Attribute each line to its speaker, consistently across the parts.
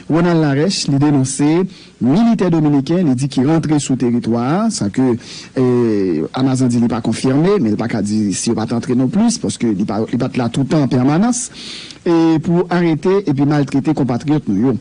Speaker 1: Ronald Larèche li denonse militè dominiken li di ki rantre sou teritwa a, sa ke Amazan di li pa konfime, men li pa ka di si yo pa t antre non plis, paske li pa t la toutan an pèmanans, pou arete epi maltrete konpatriyòt nou yo.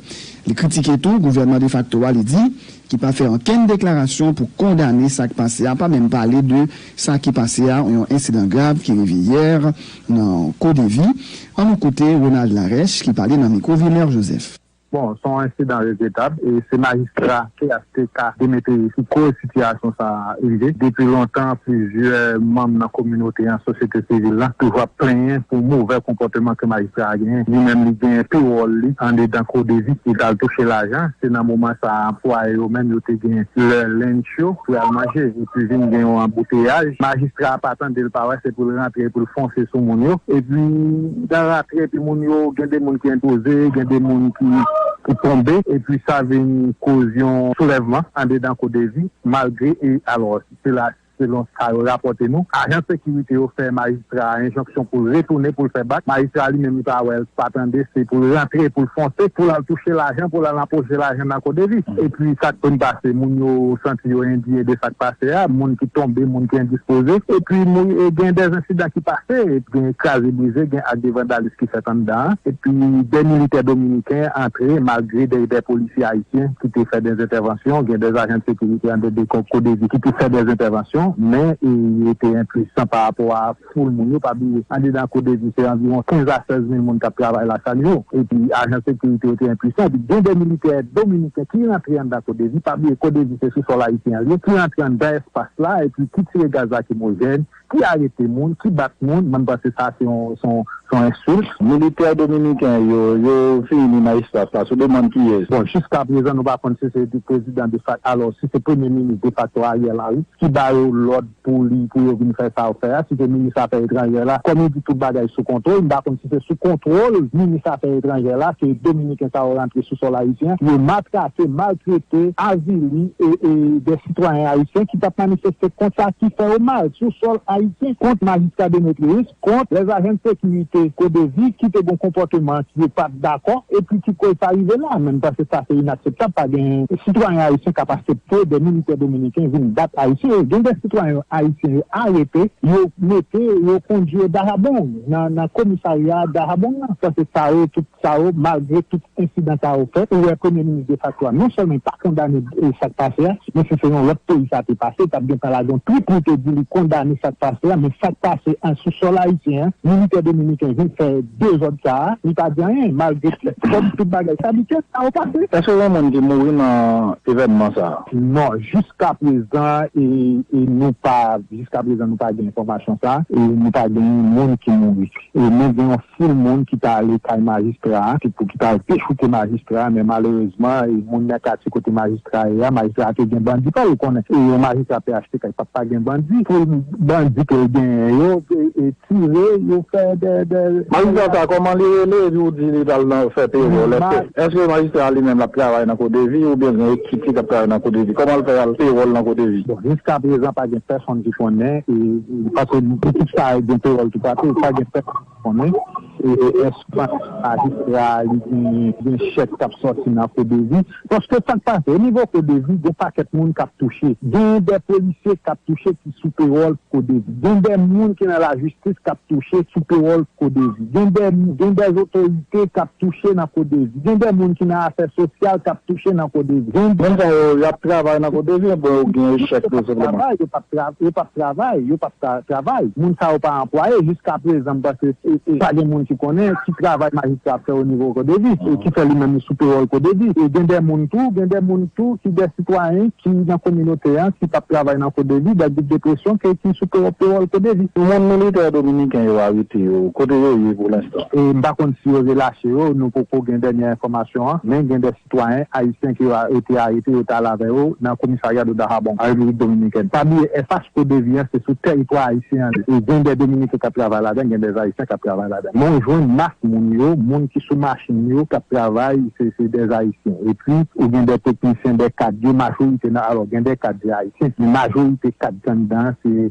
Speaker 1: Li kritike tou gouvènman defakto a li di ki pa fè ankenn deklarasyon pou kondane sa k pase a, pa menm pale de Sa ki pase a, yon ensidan grav ki rive yè nan Kodevi. An nou koute Ronald Larèche ki pale nan mikwo Vilmère Joseph. Bon, s on ensidan
Speaker 2: regretab e se majistra phtk Demeteryis ki koz sitiyasyon sa a rive. Depi lontan, plizyè manm nan kominote an, sosyete sivil la, toujou ap plenyen pou movè konpòteman ke majistra a genyen. Li menm li genyen tou wòl li andedan Kodevi, li pral touche lajan, se nan moman sa a anplwaye yo menm yo te gen lè lunch yo pou y al manje. Li vin gen yon anbouteyaj, majistra a pa tande l pa wè se pou l rantre epi pou l fonse sou moun yo epi nan rantre epi moun yo gen de moun ki enpoze gen de moun ki tonbe epi sa vin koz yon soulèvman andedan CODEVI malgre e alò sela selon sa yo rapòte nou ajan sekirite yo fè majistra Majistra a enjonksyon pou l retounen pou l fè bak. Majistra a li menm li pa wè l, pa tande, se pou l rantre, pou l fonse, pou l al touche lajan, pou l al anpoche lajan nan CODEVI. Epi sa k konn pase, moun yo santi yo endiye de sa k pase a, moun ki tonbe, moun ki endispoze. Epi gen dè ensidan ki pase, gen kraze brize, gen ak de vandalis ki fèt anndan an. Epi dè militè dominiken antre malgre dè dè polisye ayisyen ki te fè dè entèvansyon, gen dè ajan de sekirite anndan de CODEVI ki te fè dè entèvansyon. kesyon, men yo te enpuisan pa rapò a foul moun yo. Pa bliye, andedan CODEVI, se anviwon 15 a 16 mil moun k ap travay la chak jou, epi ajan sekirite yo te enpuisan. Epi gen 2 militè dominiken ki rantre anndan CODEVI, pa bliye CODEVI se sou sòl ayisyen an li ye, ki rantre anndan espas la epi ki tire gaz lakimojèn, ki arete moun, ki bat moun. Mwen panse sa se yon Son insulte. Militè dominiken yo yo fini Maestras la sou demann kiyes? Bon jiska prezan nou pa konn si se prezidan defak alò si se premye minis defakto Ariel Henry ki ba yo lòd pou li pou yo vin fè sa yo fè a si se minis afè etranjè la kòm yo di tout bagay sou kontwol m pa konn si se sou kontwol minis afè etranjè la ke dominiken sa yo rantre sou sòl ayisyen pou yo matrake maltrete avili e e dè sitwayen ayisyen ki t ap manifeste kont sa ki fè yo mal sou sòl ayisyen kont majistra Demetrius. kont lè ajan sekirite CODEVI ki te gon konpòteman ki yo pat dakò epi ki koz sa rive la menm pase sa se inakseptab pa gen sitwayen ayisyen kap asepte de militè dominiken vin bat ayisyen yo gen de sitwayen ayisyen yo arete yo mete yo kondwi yo Dajabón nan komisarya Dajabón nan pase sa yo tout. Sa yo, malgre tout ensidan sa yo fèt, ou wè premye minis defakto a non sèlman li pa kondane sa k pase a, men si se yon lòt peyi sa te pase, li t ap gentan lage yon twit pou l te di li kondane sa k pase a, men sa k pase a sou sòl ayisyen an, militè dominiken vin fè dezòd sa a, li pa di anyen, malgre kòm tout bagay sa li tè, sa yo pase. Èske yon moun te mouri
Speaker 3: nan evènman sa a? Non,
Speaker 2: jiskaprezan nou pa jiskaprezan nou pa gen enfòmasyon sa a, nou pa gen moun ki mouri, men gen yon. foul moun ki ta ale kay majistra a ki pou ki ta al dechouke majistra a men malerezman e moun nan katye kote majistra a ye a majistra a te gen bandi pa l ou konnen e yon majistra phtk l pap pa gen bandi foul bandi ke l genyen yo e tire yo fè dè dè. Majistra sa kòman li
Speaker 3: rele epi ou di li t al nan fè pewòl èske èske majistra a li menm l ap travay nan kodevi oubyen l gen ekip ki t ap travay nan kodevi kòman l fè al pewòl nan kodevi. Bon jiskaprezan pa gen
Speaker 2: pèsonn ki konnen e. Paske pitit sa a gen pawòl tou pati, pa gen pèp ki konnen èske majistra a li gen chèk k ap sòti nan CODEVI. Paske sa k pase, onivo CODEVI gen pakèt moun k ap touche. Gen dè polisye k ap touche ki sou pewòl CODEVI. Gen dè moun ki nan lajistis k ap touche sou pewòl CODEVI. Gen dè otorite k ap. touche nan CODEVI. Gen de moun ki nan afè sosyal k ap touche nan CODEVI. Moun sa yo, y ap
Speaker 3: travay nan CODEVI oubyen yo gen echèk yo senpleman? Yo p ap travay, yo p ap
Speaker 2: travay, yo p ap travay. Moun sa yo pa anplwaye jiska prezan m panse pa gen moun ki konnen ki travay majistra ap fè onivo CODEVI e ki fè li menm li sou pewòl CODEVI. E gen de moun tou, gen de moun tou ki de sitwayen ki nan kominote an ki p ap travay nan CODEVI dat Big Depression ke ki sou pewòl CODEVI. Moun militè dominiken
Speaker 3: yo arete yo, kote yo ye pou lenstan? E m pa konn si yo
Speaker 2: relache yo, nou poko gen dènyè enfòmasyon an, men gen 2 sitwayen ayisyen ke yo te arete yo te al avè yo nan komisarya do Dahabon, an Repiblik Dominikèn. Pa bliye FHODEVI an se sou tèritwa ayisyen an li ye. Gen 2 dominiken k ap travay ladan l, gen 2 ayisyen k ap travay ladan l. Men ou jwenn mas moun yo, moun ki sou machin yo k ap travay se se 2 ayisyen. Epi ou gen 2 teknisyen, 2 kad yo, majorite nan alò gen 2 kad se ayisyen, men majorite kad ki anndan an se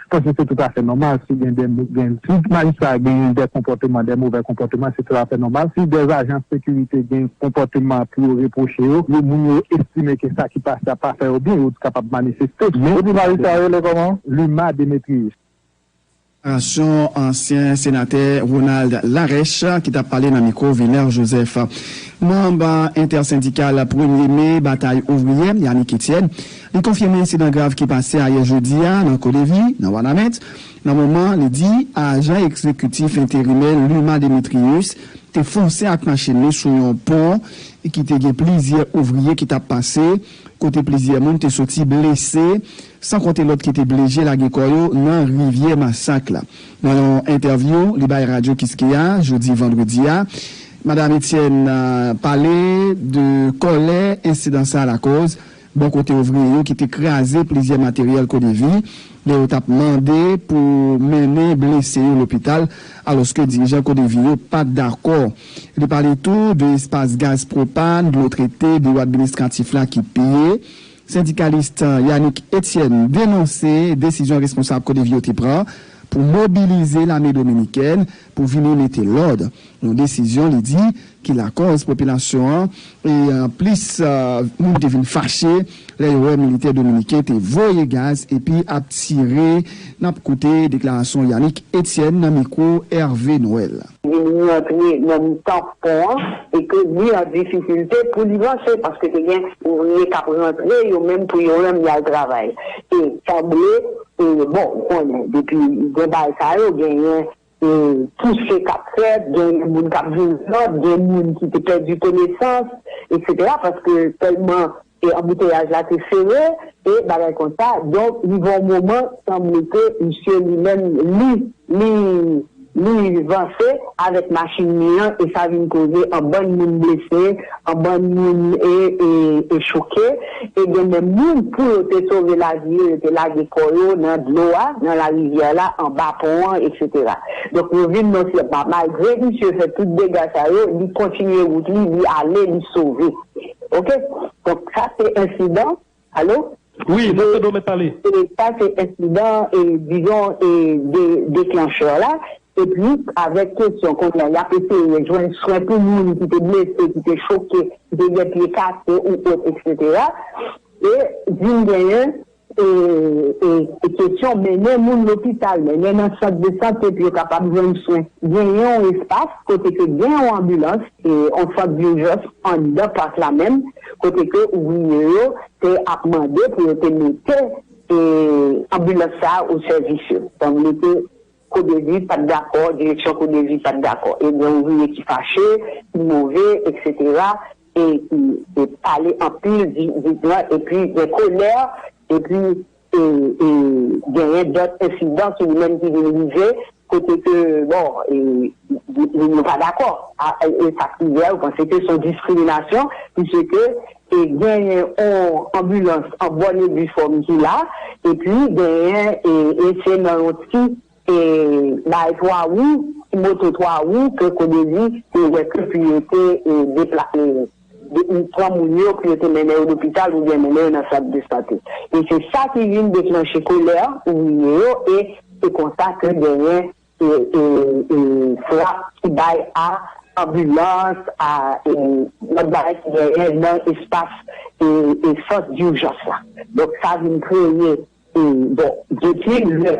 Speaker 2: M panse se tout afè nòmal si gen de gen si majistra a genyen de konpòteman de movè konpòteman se tout afè nòmal si de ajan sekirite gen konpòteman pou yo repwoche yo yo moun yo estime ke sa ki pase a pa fè yo byen yo t kapab manifeste men Ou di majistra a rele kòman? Luma Demetrius. Deklarasyon
Speaker 1: ansyen senatè Ronald Larèche ki t ap pale nan mikwo Vilner Joseph. Manb entèsendikal Premye Me Batay Ouvriyè, Yanick Etienne, Li konfime ensidan grav ki pase ayè jedi a nan Kodevi, nan Wanament, nan moman li di ajan ekzekitif enterimè Luma Demetrius te fonse ak machin li sou yon pon ki te gen plizyè ouvriye ki t ap pase, kote plizyè moun te soti blese, san konte lòt ki te blije lage kò yo nan Rivyè Masak la. Nan yon entèvyou li bay Radyo Kiskeya jodi vandredi a, Madam Etienne pale de kòlè ensidan sa lakoz Bò kote ouvriye yo ki te kraze plizyè materyèl CODEVI lè yo tap mande pou mennen blese yo lopital alòske dirijan CODEVI yo pat dakò. Li pale tou de espas gaz pwopàn, dlo trete, biwo administratif la ki piye. Sendikalis Yanick Etienne denonse desizyon responsab CODEVI yo te pran pou mobilize lame dominikèn. pou vini mete lòd, yon desizyon li di ki lakòz popilasyon an e plis moun te vin fache lè yo wè militè dominiken te voye gaz epi ap tire, n ap koute deklarasyon Yanick Etienne nan mikwo Hervé Noël. vin rantre
Speaker 4: nan mitan pon an e ke li an difikilte pou li vanse paske te gen ouvriye k ap rantre yo menm pou yo menm y al travay e sanble E bon ou konnen depi gen bagay sa yo genyen pouse kap fèt, genyen moun kap vin zòt, gen moun ki te pèdi konesans etc paske tèlman anbouteyaj la te sere e bagay konsa donk rive yon moman sanble ke misye li menm li li Louis vanse avèk machin li an e sa vin koze anbann moun blese, anbann moun e choke e gen menm moun pou yo te sove lavi yo, yo te lage kò yo nan dlo a, nan larivyè la, anba pon an eksetera. Donk yo vin nan syèl pa. Malgre misye fè tout dega sa yo, li kontinye wout li, li ale, li sove. Ok? Donk sa se ensidan Alo? Wi, nap tande w
Speaker 5: mèt pale. Sa se
Speaker 4: ensidan e dizon e de deklanchè la e plis avèk kesyon kounye a yap eseye jwenn swen pou moun ki te blese, ki te choke, ki te gen pye kase ou ot eksetera e vin genyen e e kesyon mennen moun lopital, mennen nan sant de sante pou yo kapab jwenn swen. Genyen yon espas kote ke gen yon anbilans e yon sant dijans anndan pak la menm kote ke ouvriye yo te ap mande pou yo te mete e anbilans sa a o sèvis yo sanble ke kodevi pat dakò direksyon kodevi pat dakò e gen ouvriye ki fache ki move eksetera e ki te pale anpil di di gran epi gen kolè epi e genyen dòt ensidan sou li menm ki vin rive kote ke bon moun yo pa dakò e sak rive a yo panse ke son diskriminasyon pise ke genyen on anbilans an bòn e difòm ki la epi genyen e se nan yon ti E bay 3 wou, ti moto 3 wou ke Codevie te wè ke pou yo te deplase, pran moun yo pou yo te mennen yo lopital oubyen mennen yo nan sant de sante. E se sa ki vin deklanche kolè ouvriye yo e se konsa ke genyen frap ki bay a anbilans, a lòt bagay ki genyen nan espas sant durjans la. Donk sa vin kreye Bon, depi lè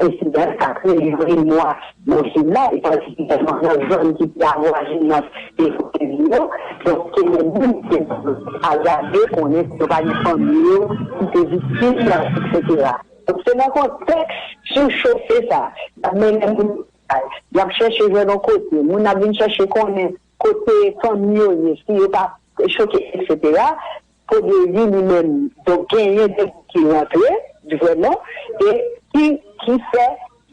Speaker 4: ensidan sa kreye yon emwa nan vil la, e patikilyèman nan zòn ki pi avwajinant e kote li yo, donk ke gen moun ki agraje konnen ke yo pa gen fanmi yo ki te viktim, eksetera. Donk se nan kontèks sichofe sa, y ap mennen moun lopital, y ap chèche jwenn yon kote, moun ap vin chèche konnen kote fanmi yo ye, si yo pa choke, eksetera, Premye ui li menm donk genyen de moun ki rantre vrèman e ki fè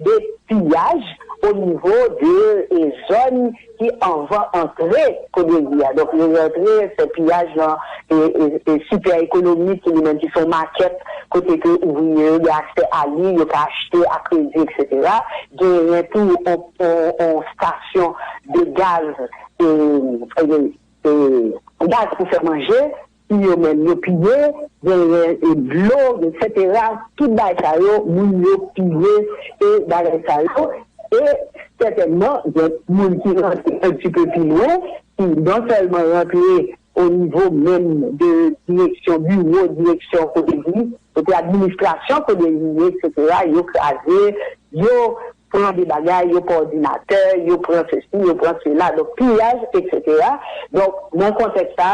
Speaker 4: de piyaj o nivo de zòn ki anvan antre premye ui a donk yo rantre fè piyaj nan sipè ekonomik ki li menm ki son makèt kote ke ouvriye yo gen aksè a li yo ka achte a kredi eksetera genyen tou on stasyon de gaz e E gaz pou fè manje, tiyo menm yo piye, genyen e dlo etsetera, tout bagay sa yo moun yo piye e bagay sa yo e sètènman gen moun ki rantre un ti peu pi lwen ki non sèlman rantre o nivo menm de direksyon biwo direksyon kote di. Kote administrasyon kode rive eksetera yo kraze yo pran de bagay yo pran òdinatè yo pran sesi yo pran sela donk piyaj eksetera donk nan kontèks sa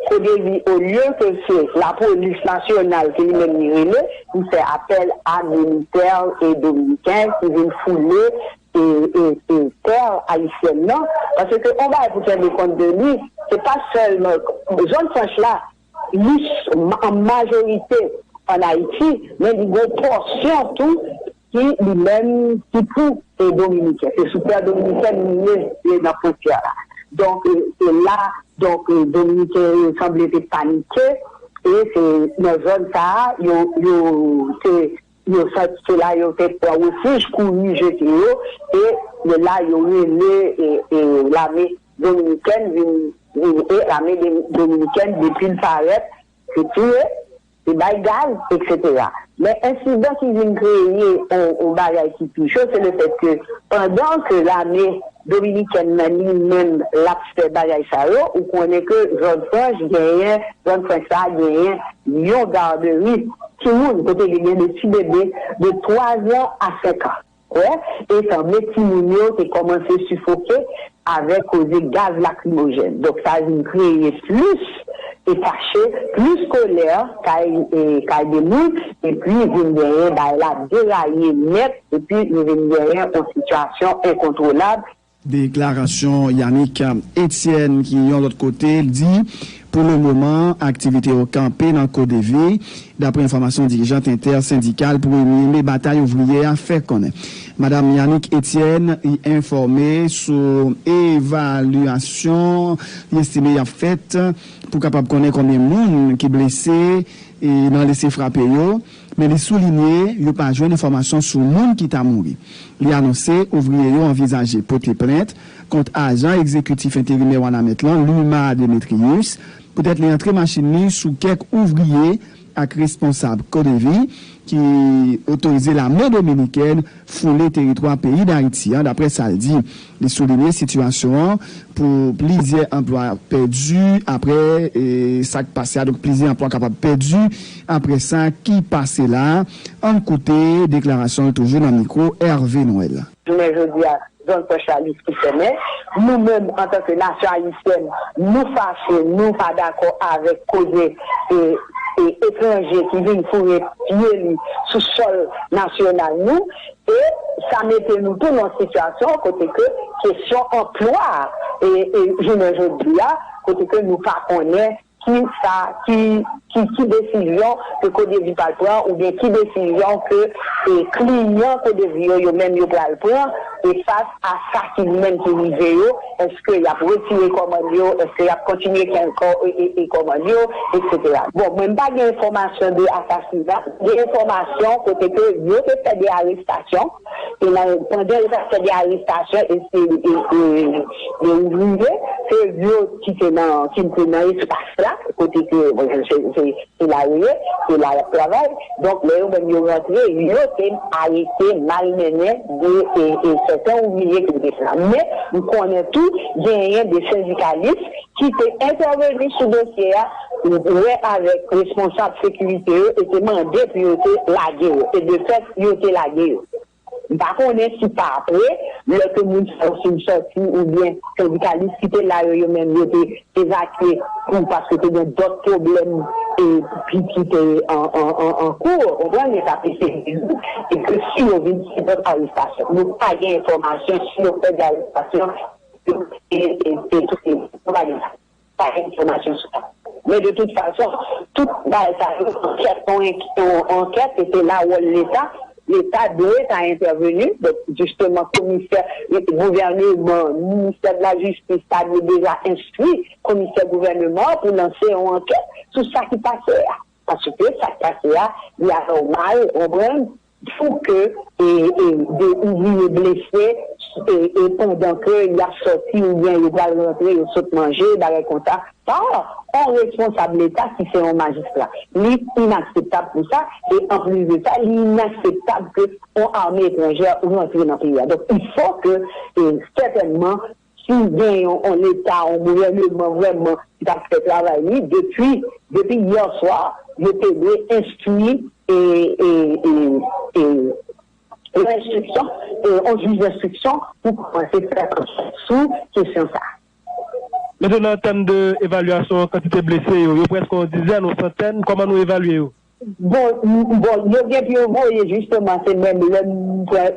Speaker 4: kode ri olye ke se lapolis nasyonal ke li menm li rele li fè apèl a militè e dominiken ki vin foule e tè ayisyèn nan paske on bagay pou tende kont de li se pa sèlman zòn franch la Lis an majorite an Ayiti, men li gen yon pòsyon tou ki li menm ki pou dominiken. Se sou tè dominikèn li ye, se nan fwontyè la. Donk se la donk dominiken yo sanble te panike e se nan zòn sa a yo te. Yo santi se la yo te pran refij, kouri jete yo, e de la yo rele lame dominikèn vin e lame dominikèn depi l parèt se tire, se bay gaz, eksetera. Men ensidan ki vin kreye yon bagay ki pi cho se le fèt ke pandan ke lame Dominiken nan li menm lap fè bagay sa yo ou konnen ke zòn franch genyen zòn franch sa genyen yon garderi timoun kote li gen de ti bebe de 3 zan a 5 an wè e sanble timoun yo te kòmanse sifoke avèk koze gaz lakrimojèn donk sa vin kreye plis e kache plis kolè kay kay de moun epi vin genyen bagay la deraye nèt. Epi li vin genyen yon sitiyasyon enkontwolab. Deklarasyon
Speaker 1: Yanick Etienne ki yon lòt kote l di pou le moman aktivite yo kanpe nan KODEVI daprè enfòmasyon dirijant entèsendikal premye me Batay Ouvriye a fè konnen. Madam Yanick Etienne li enfòme sou evalyasyon li estime y ap fèt pou kapab konnen konbyen moun ki blese nan lese frape yo. Men li soulinye yo pa jwenn enfòmasyon sou moun ki ta mouri. Li anonse ouvriye yo anvizaje pote plent kont ajan egzekitif enterimè Wanament lan Luma Demetrius poutèt li antre machin li sou kèk ouvriye ak responsab Codevi ki otorize lame dominikèn foule teritwa peyi Dayiti an, daprè sa l di. Li soulinye sitiyasyon an pou plizyè anplwa pèdi aprè sa k pase a, donk plizyè anplwa kapab pèdi aprè sa ki pase la a. Ann koute deklarasyon l toujou nan mikwo Hervé Noël. Jounen jodi a,
Speaker 4: zòn pwès la riske fèmen. Nou menm antanke nasyon ayisyèn, nou fache, nou pa dakò avèk koze etranje ki vin foure pye li sou sòl nasyonal nou. E sa mete nou tou nan yon sitiyasyon kote ke kesyon anplwa a e jounen jodi a kote ke nou pa konnen ki sa ki ki desizyon ke Codevi pral pran oubyen ki desizyon ke e kliyan Codevi yo yo menm yo pral pran e fas a sa ki menm ki rive yo. Eske yap retire kòmand yo, eske yap kontinye kè kò e kòmand yo etc. Bon mwen mpa gen enfòmasyon de asasina, gen enfòmasyon kote ke yo te fè de arestasyon e nan pandan yo tap fè de arestasyon e se de ouvriye se yo ki te nan ki te nan espas la kote ke se Se la yo ye, se la yap travay, donk lè yo menm yo rantre yo te arete, malmennen de sèten ouvriye ki te fè sa. Men m konnen tou genyen de sendikalis ki te entèveni sou dosye a, wè avèk responsab sekirite yo e te mande pou yo te lage yo, e de fèt yo te lage yo. M pa konnen si pa apre, lè ke moun sa yo fin sòti oubyen sendikalis ki te la yo, yo menm yo te evakye pou paske te gen dòt pwoblèm e ki ki te an kou, ou konprann, yo t ap eseye rezoud e ke si yo vin fè dòt arestasyon. Nou pa gen enfòmasyon si yo fè de arestasyon, si yo te touye moun. Nou pa gen sa. pa gen enfòmasyon sou sa. Men de tout fason, tout bagay sa yo, ankèt yon ankèt e se la wòl leta, leta dwe ta entèveni, donk jisteman komisè, gouvèneman, ministè de la jistis ta dwe deja enstwi komisè gouvèneman an pou lanse yon ankèt sou sa ki pase a, paske sa k pase a li anòmal, ou konprann, Fou ke e e 2 ouvriye blese e e pandan ke yap sòti oubyen yo pral rantre yo sot manje bagay konsa pa on responsab leta ki se on majistra li inakseptab pou sa e anplis de sa li inakseptab ke on arme etranjè rantre nan peyi a donk il fò ke e sètènman Si w gen yon on eta, on gouvèneman vrèman ki t ap fè travay li depi depi hier soir yo te dwe enstwi e e e e yon enstriksyon e on jij denstriksyon pou kòmanse fè ankèt sou kesyon sa a. Mesye
Speaker 5: nan tèm de evalyasyon kantite blese yo, yo prèske on dizèn, on santèn, kòman nou evalye yo? Bon,
Speaker 4: bon, yo gen pou yo voye jisteman se menm lè m pran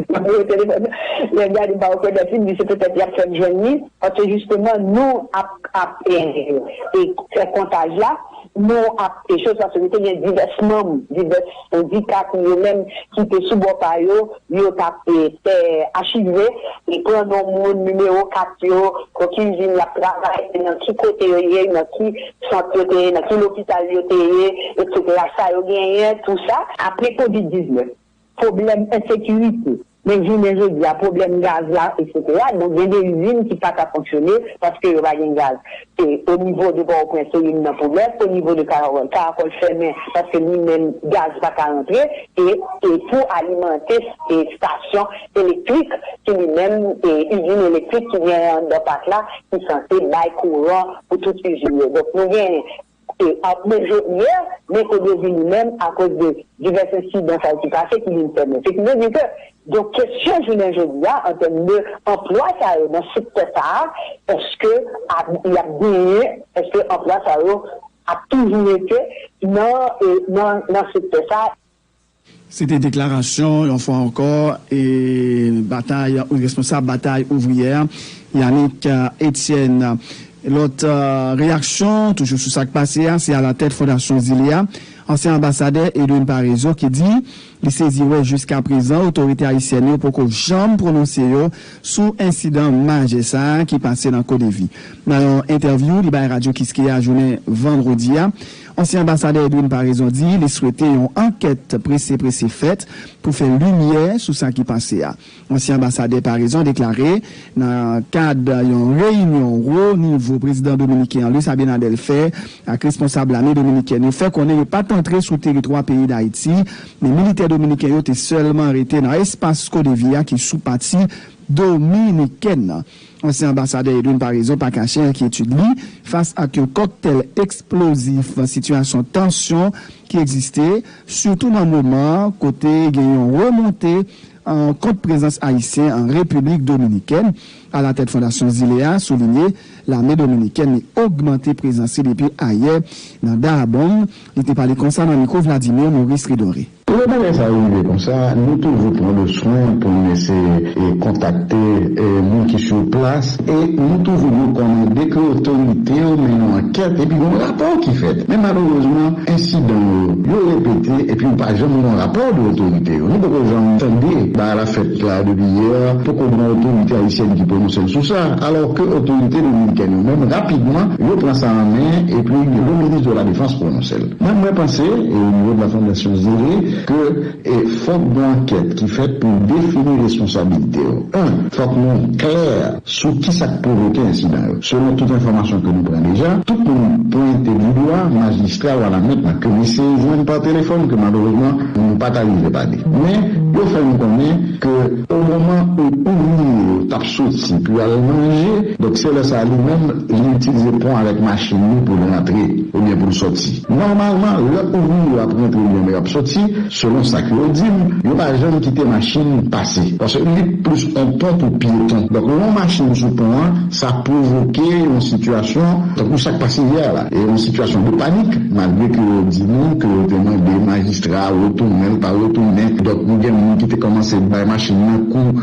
Speaker 4: nimewo telefòn nan, lè m gade m pa rekonèt li, m di se petèt y ap fè m jwenn li, paske jisteman nou ap ap e fè kontaj la, nou ap e chòs paske te gen divès manm, divès sendika ki yo menm ki te sou bò pa yo Yo t ap fè achive, li pran non moun, nimewo kat yo, pou ki izin y ap travay, nan ki kote yo ye, nan ki sant yo te ye, nan ki lopital yo te ye, eksetera, sa yo genyen, tou sa. Apre kovid 19, pwoblèm ensekirite, men jounen jodi a pwoblèm gaz la, eksetera, donk gen de izin ki pa ka fonksyone paske yo pa gen gaz. E o nivo de pòwoprens se youn nan pwoblèm, o nivo de karakòl, karakòl fèmen paske li menm gaz pa ka rantre e e pou alimante e stasyon elektrik ki li menm e izin elektrik ki genyen anndan pak la ki sanse bay kouran pou tout izin yo donk nou gen Kote, ap men Jodnè, men Kodevi li menm, akoz de divès ensidan sa yo ki pase, ki vin fèmen. Se ki vle di ke, donk kesyon jounen jodi a, an tèm de anplwa sa yo nan sektè sa a, èske ap, y ap genyen, èske anplwa sa yo ap toujou rete nan, nan, nan sektè sa a? Se te
Speaker 1: deklarasyon, yon fwa ankò, batay ou responsab Batay Ouvriyè a, Yanick Etienne. Lòt reyaksyon, toujou sou sa k pase a, se alatèt fondasyon zile a, ansyen anbasadè Edwin Paraison ki di li sezi wè jiskaprezan otorite ayisyèn yo poko janm pwononse yo sou ensidan majè sa ki pase nan Kodevi. Nan yon entèvyou li bay Radyo Kiskeya jounen vandredi a, Ansyen anbasadè Edwin Paraison di li swete yon ankèt prese prese fèt pou fè limyè sou sa ki pase a. Ansyen anbasadè Paraison deklare nan kad yon reyinyon wo nivo prezidan dominiken an Luis Abinader fè ak responsab lame dominikèn yo fè konnen yo pat antre sou teritwa peyi Dayiti men militè dominiken yo te sèlman rete nan espas Codevi a ki sou pati dominikèn nan. Ansyen anbasadè Edwin Paraison pa kache enkyetid li fas ak yon kòktèl eksplozif sitiyasyon tansyon ki egziste, sitou nan moman kote gen yon remonte kont prezans ayisyen an Repiblik Dominikèn. Alatèt Fondasyon Zile a soulinye lame dominikèn li ogmante prezans li depi ayè nan Dahbong. Li te pale konsa nan mikwo Vladimir Maurice Ridore. Pou yon bagay sa yo rive
Speaker 6: konsa, nou toujou pran de swen pou nou eseye kontakte moun ki sou plas e nou toujou rekòmande ke otorite yo mennen yon ankèt epi gen yon rapò ki fèt. Men malerezman, ensidan yo, yo repete epi ou pa janm gen yon rapò de otorite yo. Nou poko janm tande bagay la fèt la depi yè, poko gen yon otorite ayisyèn ki pwononse l sou sa, alò ke otorite dominikèn yo menm rapidman yo pran sa an men epi le minis de la defans pwononse. Menm mwen panse e o nivo de la fondation Zele ke e fok gon ankèt ki fèt pou n defini responsabilite yo. 1, fok nou klè sou kisa k pwovoke ensidan yo. Selon tout enfòmasyon ke nou pran deja, tout moun pwente du dwa majistra Wanament nan ke m eseye jwenn pa telefòn ke malerezman nou pa ta rive pale. Men yo fè nou konnen ke o moman ou ouvriye yo t ap soti pou y al manje, donk se lè sa li menm li itilize pon avèk machin li pou l rantre oubyen pou l soti. Nòmalman, lè ouvriye yo ap rantre oubyen lè yo ap soti, selon sa ke yo di m, yo pa janm kite machin pase, paske li plis on pon pou pyeton. Donk lè on machin sou pon an, sa pwovoke yon sitiyasyon tankou sa k pase yè la, e yon sitiyasyon de panik, malgre ke yo di nou ke yo te mande majistra a retounen, l pa retounen, donk nou gen moun ki te kòmanse bay machin nan kou.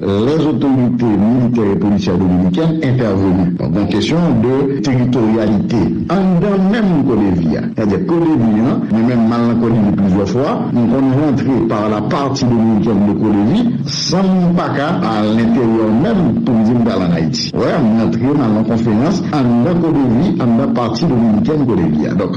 Speaker 6: Lè zotorite militè e polisyè dominikèn entèveni. Gon kesyon de teritoryalite anndan menm CODEVI a. Sètadi CODEVI an, mwen menm m al nan CODEVI plizyè fwa, m konn rantre par la partie dominicaine de CODEVI san m pa ka a lenteryè menm pou m di m pral an Ayiti. Wè, m rantre m al nan konferans anndan CODEVI, anndan partie dominicaine CODEVI a. Donk,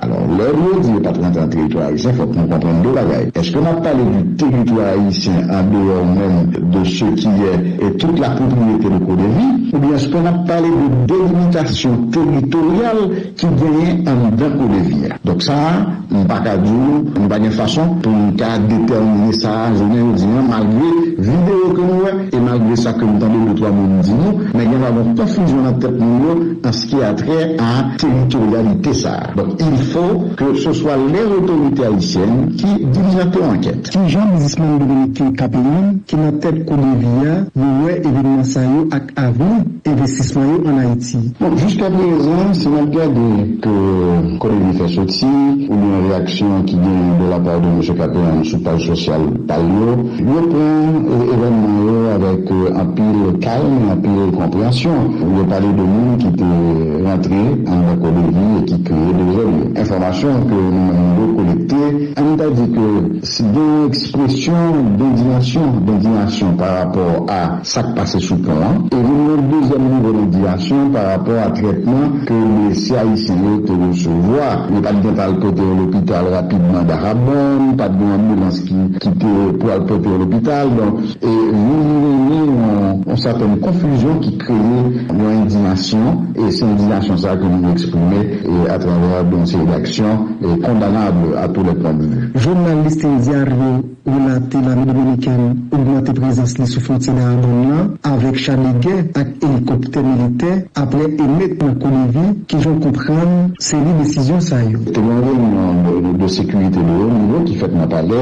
Speaker 6: Alò, lè yo di yo pa t rantre nan teritwa ayisyen, fòk nou konprann de bagay. Eske n ap pale di teritwa ayisyen andeyò menm de se ki yè e tout la pwopriyete de CODEVI, oubyen eske n ap pale de delimitasyon teritoryal ki genyen anndan CODEVI a? Donk sa a, m pa ka di ou, nou pa gen fason pou nou ka detèmine sa a jounen jodi an, malgre videyo ke nou wè e malgre sa ke m tande de twa moun di nou, men gen dwa gen konfizyon nan tèt moun yo. ki a trè a teritoryalite sa a. Donk il fo ke se swa lè otorite ayisyèn ki dilijante yon ankèt. Ki jan bizismann
Speaker 7: dominiken Capeland ki nan tèt kou Devi a yo wè evenman sa yo ak avni envestisman yo an Ayiti? Bon, jiska prezan,
Speaker 6: si n ap gade ke kou Devi fè soti, oubyen reyaksyon ki genyen de la part de Mesye Capeland sou paj sosyal pa l yo, yo pran evènman yo avèk anpil kalm e anpil konpreyansyon. Ou byen pale de moun ki te rantre anndan kò Levi e ki kreye dezòd yo. Enfòmasyon ke nou menm nou dwe kolekte, ann ta di ke si gen yon ekspresyon dendiyasyon, dendiyasyon pa rapò a sa k pase sou pon an, e vin yon dezyèm nivo dendiyasyon pa rapò a trètman ke blese ayisyen yo te resevwa. Yo pa t gen tan al pote yo lopital rapidman Dahabòn, pa t gen yon anbilans ki te pou al pote yo lopital. Donk, E mouri wi ni yon sètèn konfizyon ki kreye yon endiyasyon e se endiyasyon sa ke nou eksprime e atravè de yon seri daksyon e kondanab a tou lè pwen de vi. Jounal Listin Diario
Speaker 7: relate lame dominikèn ogmante prezans li sou fwontye Dahabón lan avèk cha de gè ak elikoptè militè aprè emèt nan Kolivi ki jan w konprann se li desizyon sa yo. Te gen yon reyinyon
Speaker 6: de sekirite de wo nivo ki fèt nan palè